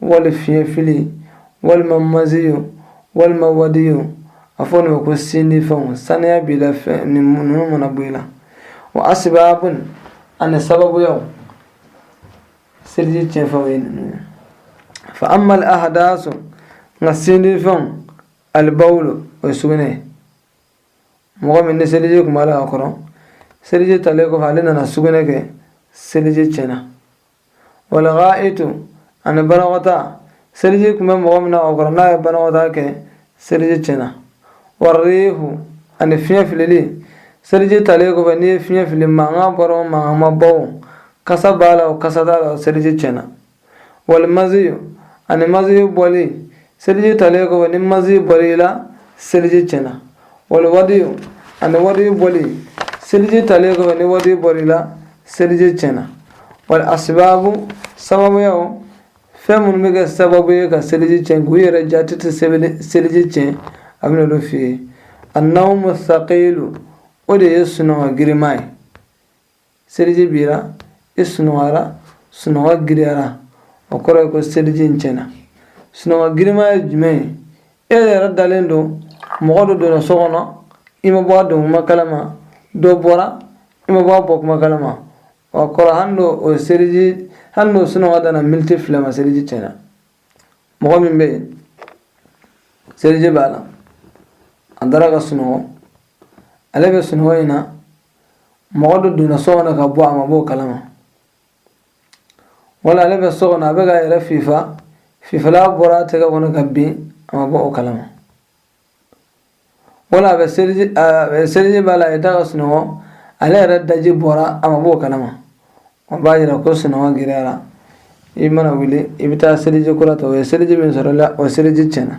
wali fiɲɛfili walima maziyu walima wadiyu a fɔ nin ma ko sindi fɛnw saniya b'i la ninnu mana bɔ i la wa asibabun ani sababuyaw seliji tiɲɛfɛnw ye ninnu ye fa amma al ahadasu nka sindi fɛnw alibawulu o ye sugunɛ ye mɔgɔ min ni seliji kun b'a la a kɔrɔ seliji talen kɔfɛ ale nana sugunɛ kɛ seliji tiɲɛna wali gaa'itu ani banakɔtaa seliji kun bɛ mɔgɔ min na o kɔrɔ n'a ye banakɔtaa kɛ seliji tiɲɛna warihu ani fiɲɛ filili seliji talen kɔfɛ n'i ye fiɲɛ fili mankan bɔra o mankan ma bɔ o kasa b'a la o kasa t'a la o seliji tiɲɛna wali maziyu ani maziyu bɔli seliji talen kɔfɛ ni mazi bɔr'i la seliji tiɲɛna wali wadiyu ani wadiyu bɔli seliji talen kɔfɛ ni wadiyu bɔr'i la seliji tiɲɛna wali asibabu sababuyaw fɛn minnu bɛ kɛ sababu ye ka seliji tiɲɛ nk'u yɛrɛ jaati tɛ seliji tiɲɛ a bɛn'olu f'i ye annawumu saqilu o de ye sunɔgɔ girinma ye seliji b'i ra i sunɔgɔra sunɔgɔ girinyara o kɔrɔ ye ko seliji in tiɲɛna sunɔgɔ girinma ye jumɛn ye e yɛrɛ dalen don mɔgɔ dɔ donna so kɔnɔ i ma bɔ a don kuma kalama dɔ bɔra i ma bɔ a bɔ kuma kalama o kɔrɔ hali n'o o seliji hali n'o sunɔgɔ danna militi fila ma seliji tiɲɛna mɔgɔ min bɛ yen seliji b'a la a dara ka sunɔgɔ ale bɛ sunɔgɔ in na mɔgɔ dɔ donna so kɔnɔ ka bɔ a ma b'o kalama wala ale bɛ so kɔnɔ a bɛ k'a yɛrɛ fifa fifalan bɔra a tɛgɛ kɔnɔ ka bin a ma bɔ o kalama wala a bɛ seliji a bɛ seliji b'a la a y'i da ka sunɔgɔ ale yɛrɛ daji bɔra a ma bɔ o kalama o b'a yira ko sunɔgɔ girinyara i mana wuli i bɛ taa seliji kura ta o ye seliji min sɔr'i la o seliji tiɲɛna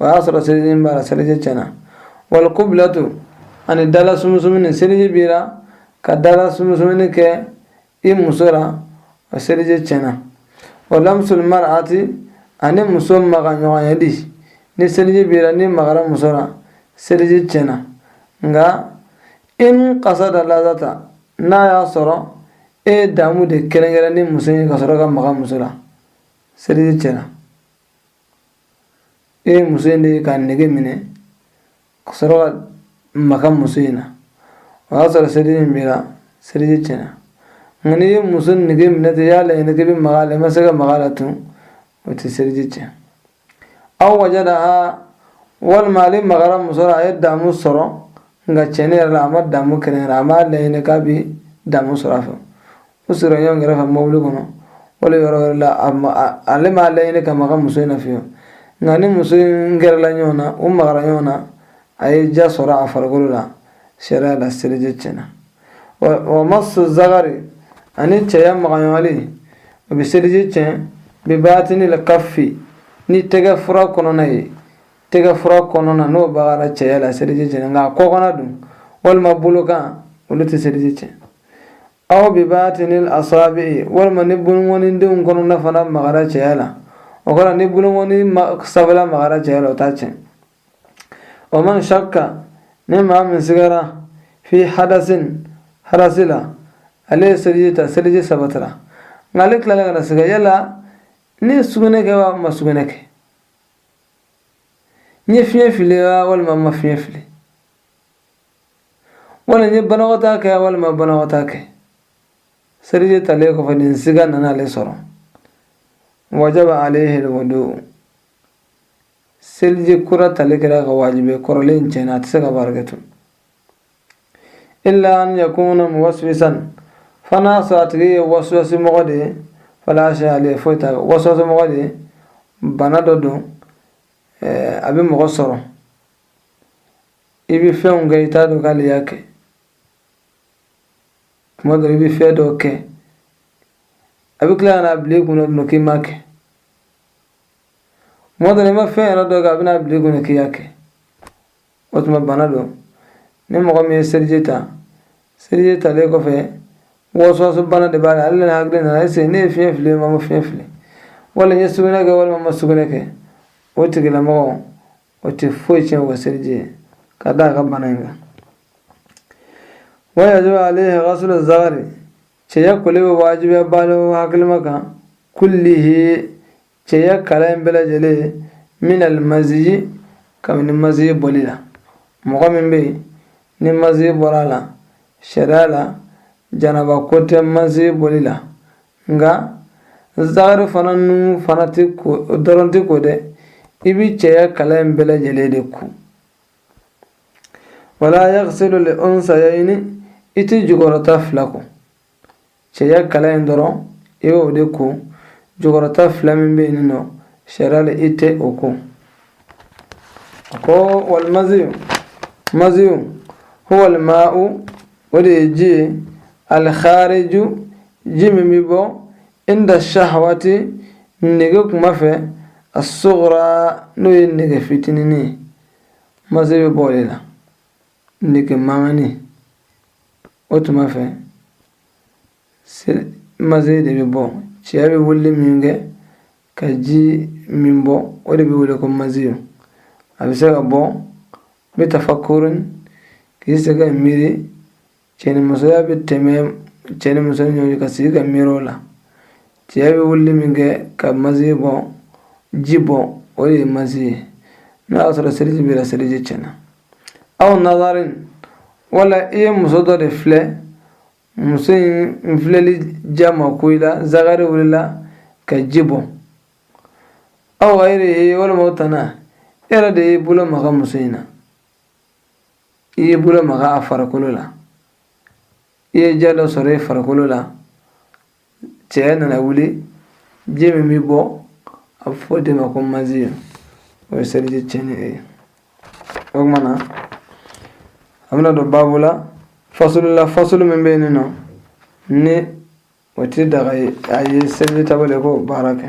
o y'a sɔrɔ seliji b'a la seliji tiɲɛna wali kubulatu ani dala sumusumuni seliji b'i la ka dala sumusumuni kɛ i muso la o seliji tiɲɛna wa lamusul mar'ati ani muso maga ɲɔgɔnyali ni seliji b'i la n'i magara muso la seliji tiɲɛna nka in kasada lazata n'a y'a sɔrɔ e ye damu de kɛrɛnkɛrɛn ni muso ye ka sɔrɔ ka maga muso la seliji tiɲɛna e ye muso in de ka nege minɛ ka sɔrɔ ka maga muso in na o y'a sɔrɔ seliji in b'i la seliji tiɲɛna nka n'i ye muso nege minɛ ten i y'a laɲini k'i bɛ maga a la i ma se ka maga a la tun o tɛ seliji tiɲɛ aw wajadaha walima ale magara muso la a ye damu sɔrɔ nka tiɲɛ yɛrɛ la a ma damu kɛrɛnkɛrɛn a m'a laɲini k'a bɛ damu sɔrɔ a fɛ u sera ɲɔgɔn kɛrɛfɛ mobili kɔnɔ wala yɔrɔ wɛrɛ la ale m'a laɲini ka maga muso in na fiyewu nka ni muso in gɛrɛla ɲɔgɔn na u magara ɲɔgɔn na a ye diya sɔrɔ a farikolo la sariya la seliji tiɲɛna wa masu zagari ani cɛya magaɲɔgɔnli o bɛ seliji tiɲɛ bibaatinil kafi ni tɛgɛ fura kɔnɔna ye tɛgɛ fura kɔnɔna n'o magara cɛya la seliji tiɲɛna nka a kɔkanna dun walima bolokan olu tɛ seliji tiɲɛ aw bi batinil asabi'i walima ni bolokɔnindenw kɔnɔna fana magara cɛya la o kɔrɔ ni bolokɔni sabala magara cɛya la o t'a tiɲɛ wa man shakka ni maa min sigara fi hadasin hadasi la ale ye seliji ta seliji sabatara nka ale tilala ka na siga yala ne ye sugunɛ kɛ wa n ma sugunɛ kɛ n ye fiɲɛ fili wa walima n ma fiɲɛ fili wala n ye banakɔtaa kɛ wala n ma banakɔtaa kɛ seliji talen kɔfɛ ni siga nana ale sɔrɔ wajaba alayhi liwudu seliji kura tali kɛra a kan wajibi kɔrɔlen tiɲɛna a tɛ se ka baara kɛ tun illa an yakuna muwaswisan fo n'a sɔrɔ a tigi ye waswasi mɔgɔ de ye fala shayi alayhi foyi t'a waswasi mɔgɔ de ye bana dɔ don a bɛ mɔgɔ sɔrɔ bɛ fɛnw kɛ i t'a dɔn k'ale y'a kɛ tuma dɔ i bɛ fɛn dɔ kɛ a bɛ tila ka n'a bila i kunna dun k'i m'a kɛ tuma dɔ la i ma fɛn yɛrɛ dɔ kɛ a bɛ n'a bila i kunna k'i y'a kɛ o tuma bana don ni mɔgɔ min ye seliji ta seliji talen kɔfɛ waswasi bana de b'a la ale nana hakili nana ese ne ye fiɲɛ fili wa n ma fiɲɛ fili wala n ye sugunɛ kɛ walima n ma sugunɛ kɛ o tigilamɔgɔ o tɛ foyi tiɲɛ o ka seliji ye ka da a ka bana in kan wa yajibu alayhi gasulu zagari cɛya koli bɛ wajibiya baliku hakilima kan kullihi cɛya kala in bɛɛ lajɛlen min alimaziyi kabini maziyi bɔli la mɔgɔ min bɛ yen ni maziyi bɔra a la sariya la janaba ko tɛ maziyi bɔli la nka zagari fana nun fana tɛ ko dɔrɔn tɛ ko dɛ i bɛ cɛya kala in bɛɛ lajɛlen de ko wala yagisilu li unsayayini i tɛ jukɔrɔta fila ko cɛya kala in dɔrɔn i bɛ o de ko jukɔrɔta fila min bɛ yen nɔ sariya la i tɛ o ko a ko walimaziyu maziyu huwa lima'u o de ye ji ye al-khariju ji min bɛ bɔ inda shahwati nege kuma fɛ as-sughra n'o ye nege fitinin ye mazi bɛ bɔ o de la nege maŋani o tuma fɛ mazi de bɛ bɔ cɛya bɛ wuli min kɛ ka ji min bɔ o de bɛ wele ko maziyo a bɛ se ka bɔ bi tafakkurin k'i sigi ka miiri cɛnimusoya bɛ tɛmɛ cɛ ni muso ni ɲɔgɔn cɛ ka sigi ka miiri o la cɛya bɛ wuli min kɛ ka maziyo bɔ ji bɔ o de ye mazi ye n'a y'a sɔrɔ seliji b'i la seliji tiɲɛna aw nazarin wala i ye muso dɔ de filɛ muso in filɛli diya ma ko i la zakari wulila ka ji bɔ aw gayrihi walima o tana e yɛrɛ de y'i bolo maga muso in na i y'i bolo maga a farikolo la i ye diya dɔ sɔrɔ i farikolo la cɛya nana wuli ji min bɛ bɔ a bɛ fɔ o de ma ko maziyo o ye seliji tiɲɛni ye o tuma na a bɛna don baabu la fasulu la fasulu min bɛ yen nɔ ni o tɛ daga ye a ye seliji tabali k'o baara kɛ